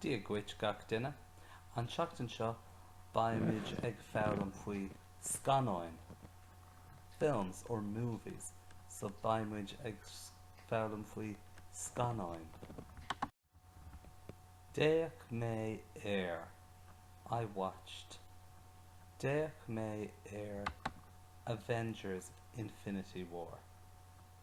Dia dhuit gach duine. An tseachtain seo beimid ag foghlaim faoi scannáin, films or movies. So beimid ag foghlaim faoi scannáin. D'fhéach mé ar, I watched. D'fhéach mé ar Avengers, Infinity War.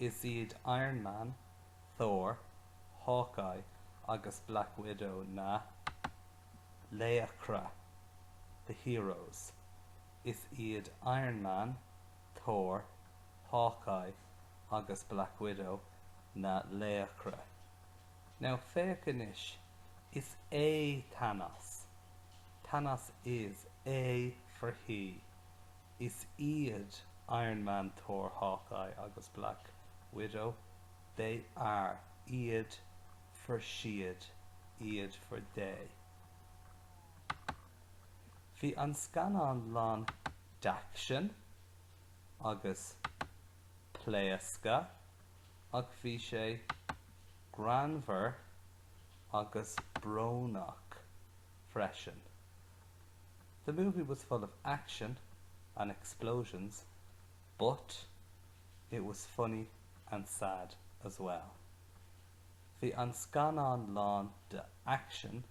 Is iad Iron Man, Thor, Hawkeye agus Black Widow na laochra, the heroes, Is iad Iron Man, Thor, Hawkeye agus Black Widow na laochra. Now féach anois, is é Thanos, Thanos is é for he. Is iad Iron Man, Thor, Hawkeye agus Black Widow, they are iad for siad iad for they. Bhí an scannán lán d'aicsean agus pléascadh ach bhí sé greannmhar agus brónach freisin. The movie was full of action and explosions but it was funny and sad as well. Bhí an scannán lán de aicsean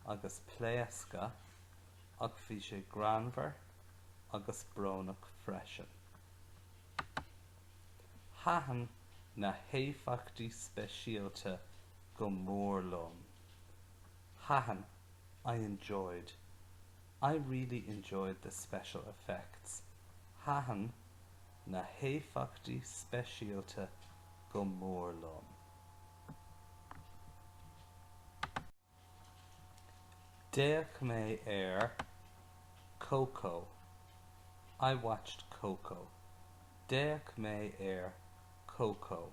agus pléascadh ach bhí sé greannmhar agus brónach freisin. Thaitin na héifeachtaí speisialta go mór liom. Thaitin, I enjoyed, I really enjoyed the special effects, Thaitin na héifeachtaí speisialta go mór liom. D'fhéach mé ar Coco, I watched Coco, D'fhéach mé ar Coco.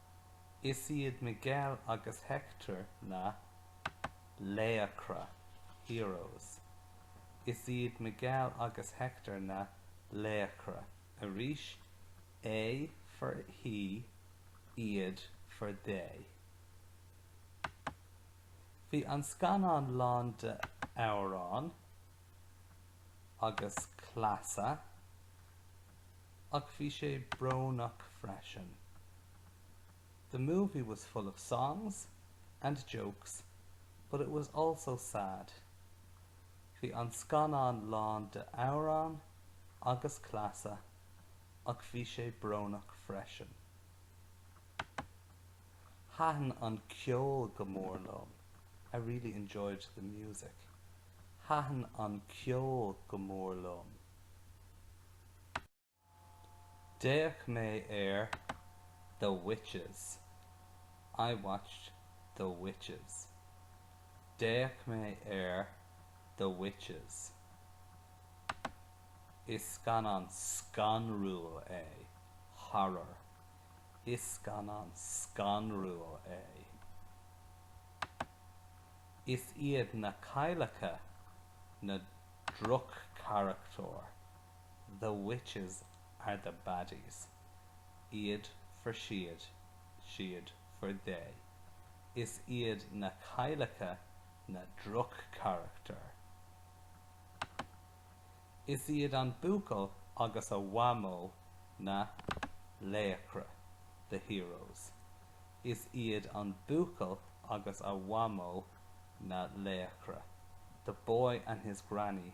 Is iad Miguel agus Hector na laochra, heroes. Is iad Miguel agus Hector na laochra, arís, é for he, iad for they. Bhí an scannán lán d'amhráin agus cleasa. ach bhí sé brónach freisin. The movie was full of songs and jokes but it was also sad Bhí an scannán lán de amhráin agus cleasa ach bhí sé brónach freisin. Thaitin an ceol go mór liom I really enjoyed the music. Thaitin an ceol go mór liom. D'fhéach mé ar The Witches. I watched The Witches. D'fhéach mé ar The Witches. Is scannán scanrúil é. Horror. Is scannán scanrúil é. Is iad na cailleacha na droch-charachtair. The witches are the baddies, iad for siad, siad for they, is iad na cailleacha na droch-charachtair. Is iad an buachaill agus a mhamó na laochra, the heroes, is iad an buachaill agus a mhamó na laochra, the boy and his granny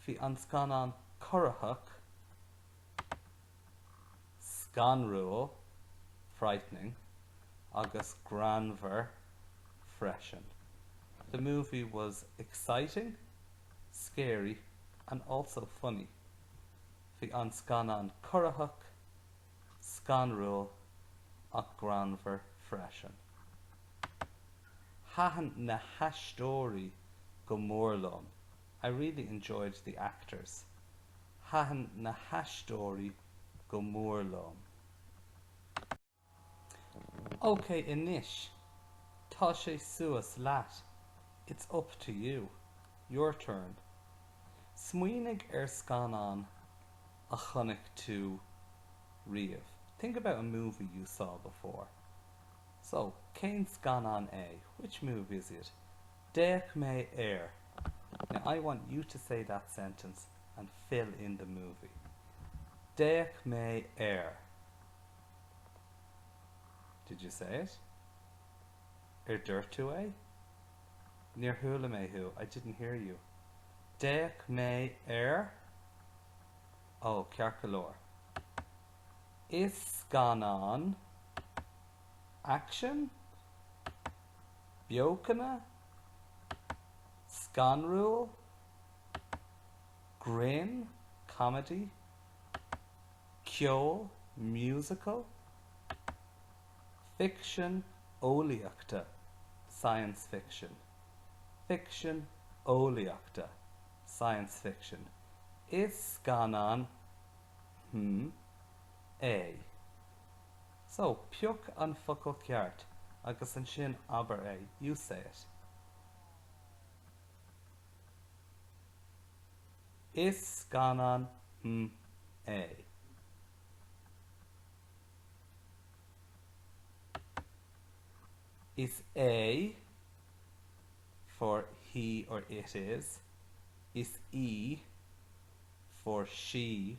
Bhí an scannán corraitheach, scanrúil, frightening, agus greannmhar freisin, The movie was exciting, scary, and also funny. Bhí an scannán corraitheach, scanrúil, ach greannmhar freisin. Thaitin na haisteoirí go mór liom. I really enjoyed the actors, Thaitin na haisteoirí go mór liom. OK anois, tá sé suas leat. It's up to you, your turn. Smaoinigh ar scannán a chonaic tú riamh. Think about a movie you saw before. So, cén scannán é? Which movie is it? D'fhéach mé ar. Now I want you to say that sentence and fill in the movie. D'fhéach mé ar. Did you say it? Ar dúirt tú é? Níor chuala mé thú. I didn't hear you. D'fhéach mé ar. Oh, ceart go leor. Is scannán aicsin? beochana, scanrúil, grinn, comedy, ceoil, musical, ficsean eolaíochta, science fiction, ficsean eolaíochta, science fiction, Is scannán, hm, é. So, pioc an focal ceart agus ansin abair é, you say it. Is scannán mm é. Is é for he or it is. Is í for she.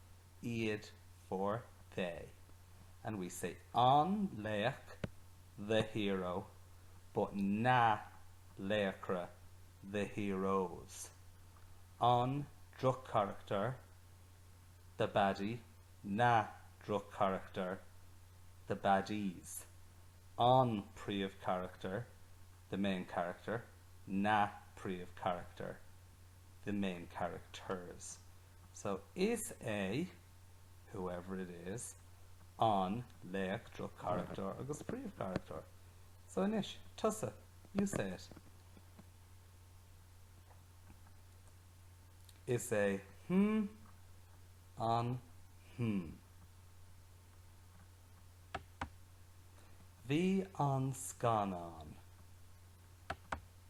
Iad for they and we say an laoch, the hero, but na laochra, the heroes, an droch-charachtar, the baddie, na droch-charachtair, the baddies, an príomh-charachtar, the main character, na príomh-charachtair, the main characters. So is é, whoever it is, an laoch, droch-charachtar agus príomhcharachtar. So anois, tusa, you say it. Is é hm an hm. Bhí an scannán.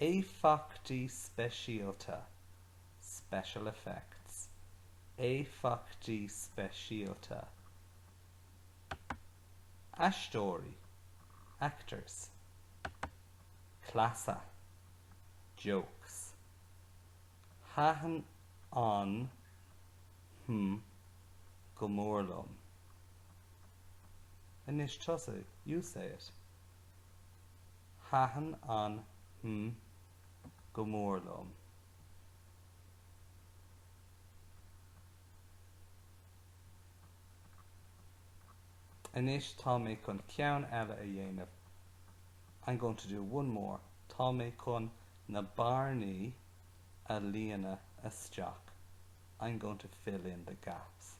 Éifeachtaí speisialta, special effects. Éifeachtaí speisialta. Aisteoirí, actors. Cleasa, jokes. Thaitin an, hm, go mór liom. Anois tusa, you say it. Thaitin an mm go mór liom. Anois tá mé chun ceann eile a dhéanamh I'm going to do one more tá mé chun na bearnaí a líonadh isteach I'm going to fill in the gaps.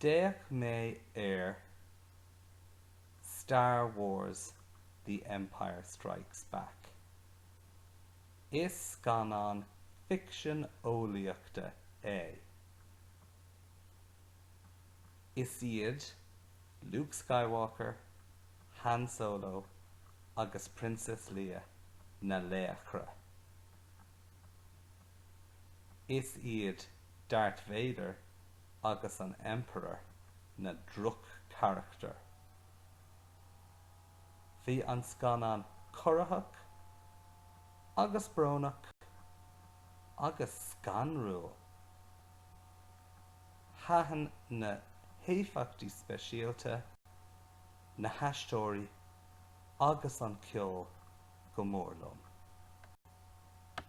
D'fhéach mé ar. Star Wars, The Empire Strikes Back. Is scannán ficsean eolaíochta é. Is iad Luke Skywalker, Han Solo agus Princess Leia na laochra. Is iad Darth Vader agus an Emperor na droch-charachtair. Bhí an scannán corraitheach agus brónach agus scanrúil. Thaitin na héifeachtaí speisialta, na haisteoirí agus an ceol go mór liom.